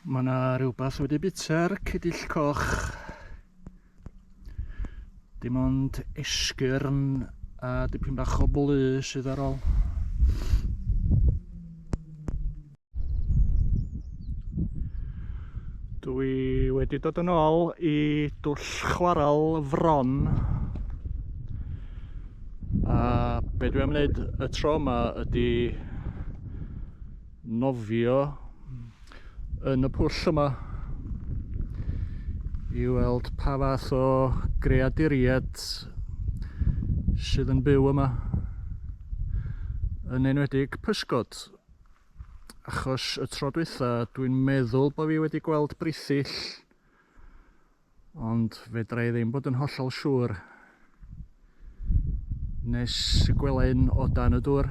Mae yna rhywbeth wedi bita'r cydill coch. Dim ond esgyrn a dipyn bach o blu sydd ar ôl. Dwi wedi dod yn ôl i dwll chwaral fron a be dwi am wneud y tro yma ydy nofio yn y pwll yma i weld pa fath o greaduriaid sydd yn byw yma yn enwedig pysgod achos y tro dwytha dwi'n meddwl bod fi wedi gweld brithyll ond fedra i ddim bod yn hollol siŵr nes y gwela un o dan y dŵr.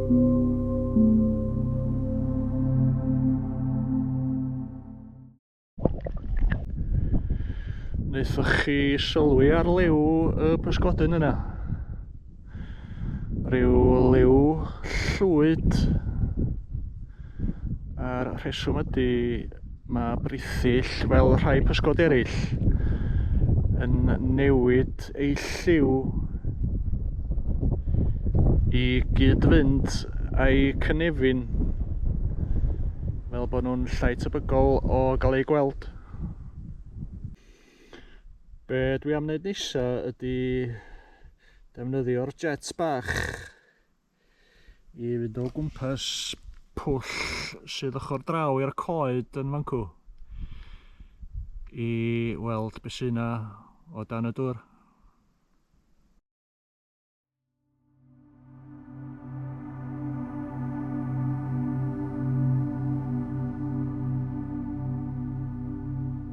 Wnaethoch chi sylwi ar liw y pysgodyn yna? Rhyw liw llwyd. A'r rheswm ydy Mae brithyll, fel rhai pysgod eraill, yn newid ei lliw i gyd-fynd a'i cynefin fel bod nhw'n llai tebygol o gael eu gweld. Be dwi am wneud nesa ydy defnyddio'r jets bach i fynd o gwmpas pwll sydd ochr draw i'r coed yn fancw i weld beth sy'n yna o dan y dŵr.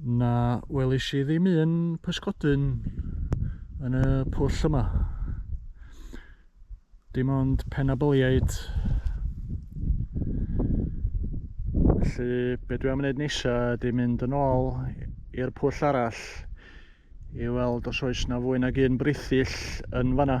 na welish i ddim un pysgodyn yn y pwll yma dim ond penabyliaid felly be dwi am wneud nesa ydy mynd yn ôl i'r pwll arall i weld os oes na fwy nag un brithill yn fanna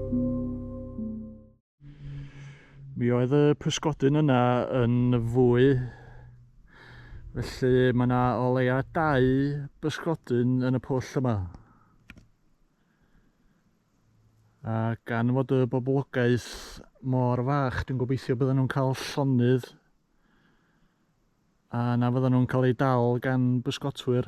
Mi oedd y pysgodyn yna yn fwy, felly mae yna o leia dau bysgodyn yn y pwll yma. A gan fod y boblogaeth mor fach, dwi'n gobeithio bydden nhw'n cael llonydd a na fydden nhw'n cael eu dal gan bysgotwyr.